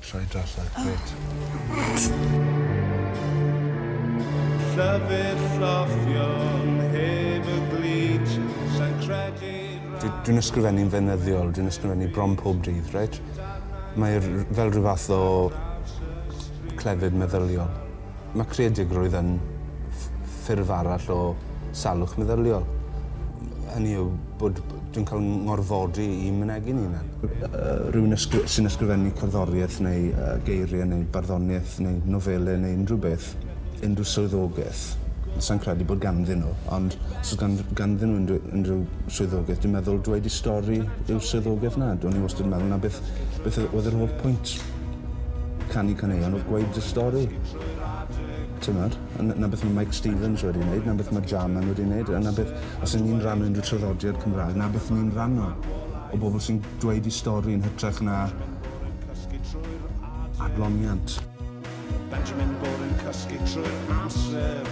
Rhaid allan, gret. Llyfr llofion heb y glid, sa'n credu... Dwi'n ysgrifennu'n fenyddiol, dwi'n ysgrifennu bron pob dydd, reit? Mae fel rhyw fath o clefyd meddyliol. Mae creadigrwydd yn ffurf arall o salwch meddyliol. Hynny yw bod dwi'n cael ngorfodi i mynegi'n hunan. Rhywun sy'n ysgrifennu cerddoriaeth neu geiriau neu barddoniaeth neu nofelau neu unrhyw beth, unrhyw swyddogaeth, sa'n credu bod ganddyn nhw, ond os oes ganddyn nhw unrhyw unrhyw swyddogaeth, dwi'n meddwl dweud eu stori yw'r swyddogaeth 'na. O'n i wastad yn meddwl 'na beth beth oedd yr holl pwynt. Canu caneuon oedd gweud y stori. Timod? A 'na beth mae Mike Stevens wedi wneud, 'na beth mae Jarman wedi wneud, a 'na beth... Os y'n ni'n rhannu unrhyw traddodiad Cymraeg, 'na beth ni'n rhannu, o bobl sy'n dweud eu stori yn hytrach na adloniant. Benjamin Bwrdd yn cysgu trwy'r amser.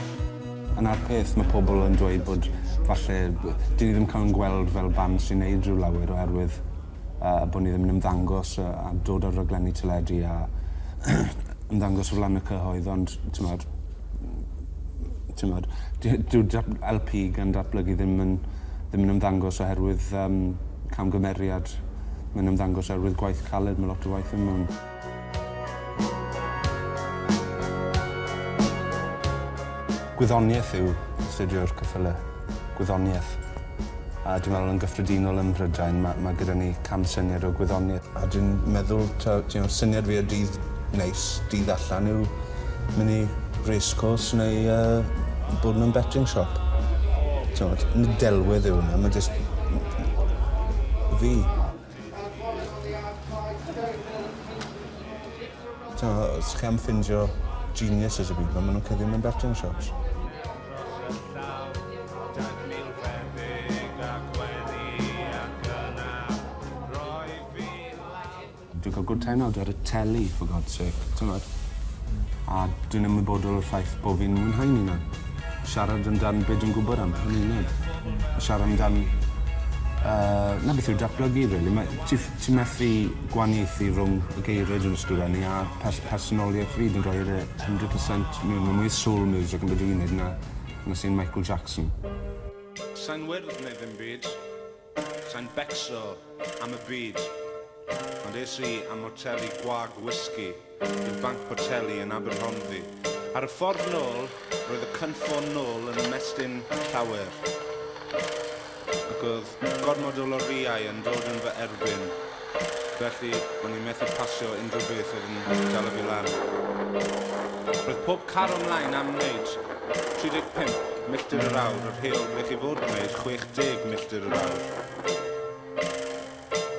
A 'na'r peth, mae pobl yn dweud bod falle 'dyn ni ddim cael ein gweld fel band sy'n wneud rhyw lawer oherwydd a bod ni ddim yn ymddangos a, a dod ar raglenni teledu a ymddangos o flaen y cyhoedd, ond ti'n modd, ti'n modd, dyw LP gan datblygu ddim yn, ddim yn ymddangos oherwydd um, camgymeriad. Mae'n ymddangos oherwydd gwaith caled, mae lot o waith yn mewn. Gwyddoniaeth yw astudio'r ceffylau. Gwyddoniaeth. A dwi'n meddwl yn gyffredinol ym Mhrydain ma' ma' gyda ni camsyniad o gwyddoniaeth. A dwi'n meddwl taw you know syniad fi o dydd neis, dydd allan yw mynd i racecourse neu yy bod mewn betting shop. T'mod? Nid delwedd yw wnna ma' jyst m- m- fi. Os chi am ffindio geniuses y byd 'ma, maen nhw'n cuddio mewn betting shops. Dwi'n cael good time nawr ar y teli for God's sake, timod? A dwi'n ymwybodol o'r ffaith bo' fi'n mwynhau'n 'unan. Siarad amdan be dwi'n gwybod am hynny i wneud. A siarad amdan yy na beth yw datblygu rili. Mae ti ff- ti methu gwaniaethu rwng y geirie dwi'n ysgrifennu a pers- personoliaeth fi dwi'n rhoid e hundred per cent mewn ma' mwy o soul music yn be' dwi neud na na sai'n Michael Jackson. Sai'n wyrdd neu ddim byd. Sa'n becso am y byd, ond es i am moteli gwag whisky i'r Banc Boteli yn Aberhonddu. Ar y ffordd nôl, roedd y cynffon nôl yn ymestyn llawer, ac oedd gormod o lorïau yn dod yn fy erbyn. felly o'n i'n methu pasio unrhyw beth oedd yn dala fi lan. Roedd pob car ymlaen am wneud 35 milltir yr awr, yr heol ble chi fod wneud 60 milltir yr awr.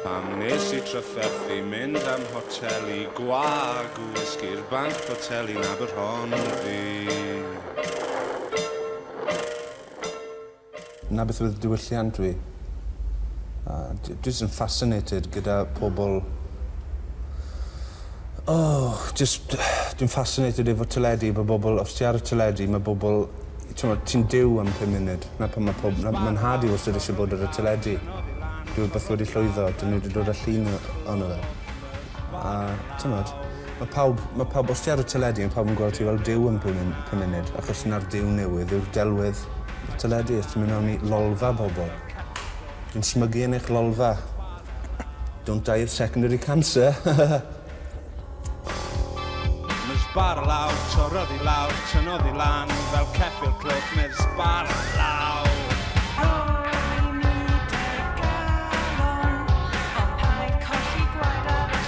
Pam nes i trafferthu mynd am hotel i gwag wysgu'r banc hotel i'n Aberhonddu? 'na beth oedd diwylliant fi. A dwi jyst yn fascinated gyda pobl o jyst dwi'n fascinated efo teledu efo bobl os ti ar y teledu ma' bobl t'mod ti'n Duw am pum munud 'na pan ma' pob- ma' ma'n nhad i wastod isie bod ar y teledu. Rhywbeth wedi llwyddo 'dyn n'w 'di dod â llun o- ono fe. A t'mod? Mae pawb, mae pawb, os ti ar y teledu, mae pawb yn gweld ti fel Duw yn pum mun- pum munud, achos na'r Duw newydd yw'r delwedd y teledu, os ti'n mynd mewn i lolfa bobl. Yn smygu yn eich lolfa. Don't die of secondary cancer. Miss bar law, torrodd i lawr, tynnodd i lan, fel ceffyl cliff, Miss bar law. Ro'n i 'di galon, a paid colli gwaed ar y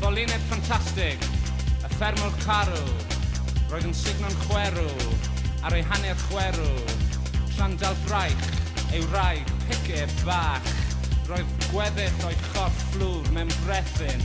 Ffolineb ffantastig, y ffermwr carw, roedd yn sugno'n chwerw, ar ei hanner chwerw, tra'n dal braich, ei wraig, picib, fach, roedd gweddill o'i chorff fflwr mewn brethyn,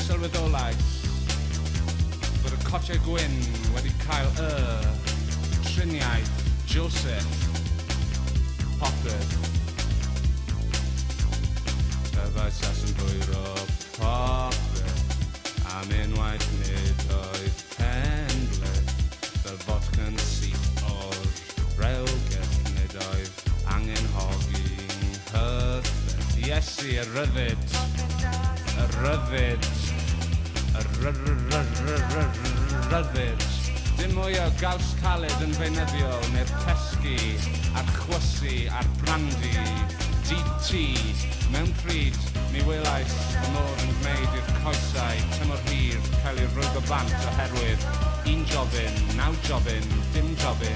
Sylweddolais fod y cotiau gwyn wedi cael y triniaeth Joseph Popeth Y faesas yn dwyro popeth Am unwaith nid oedd pen-bleth Fel fotca'n syth o'r rewgell Nid oedd Angen hogi nghyffes Iesu y rhyddid Y rhyddid Y rhyddid Dim mwy o gaws caled yn feunyddiol neu'r pesgi a'r chwysu a'r brandi DT Mewn pryd mi welais fy mod yn gwneud i'r coesau tymor hir cael eu rwygo bant oherwydd un jobyn, naw jobyn, dim jobyn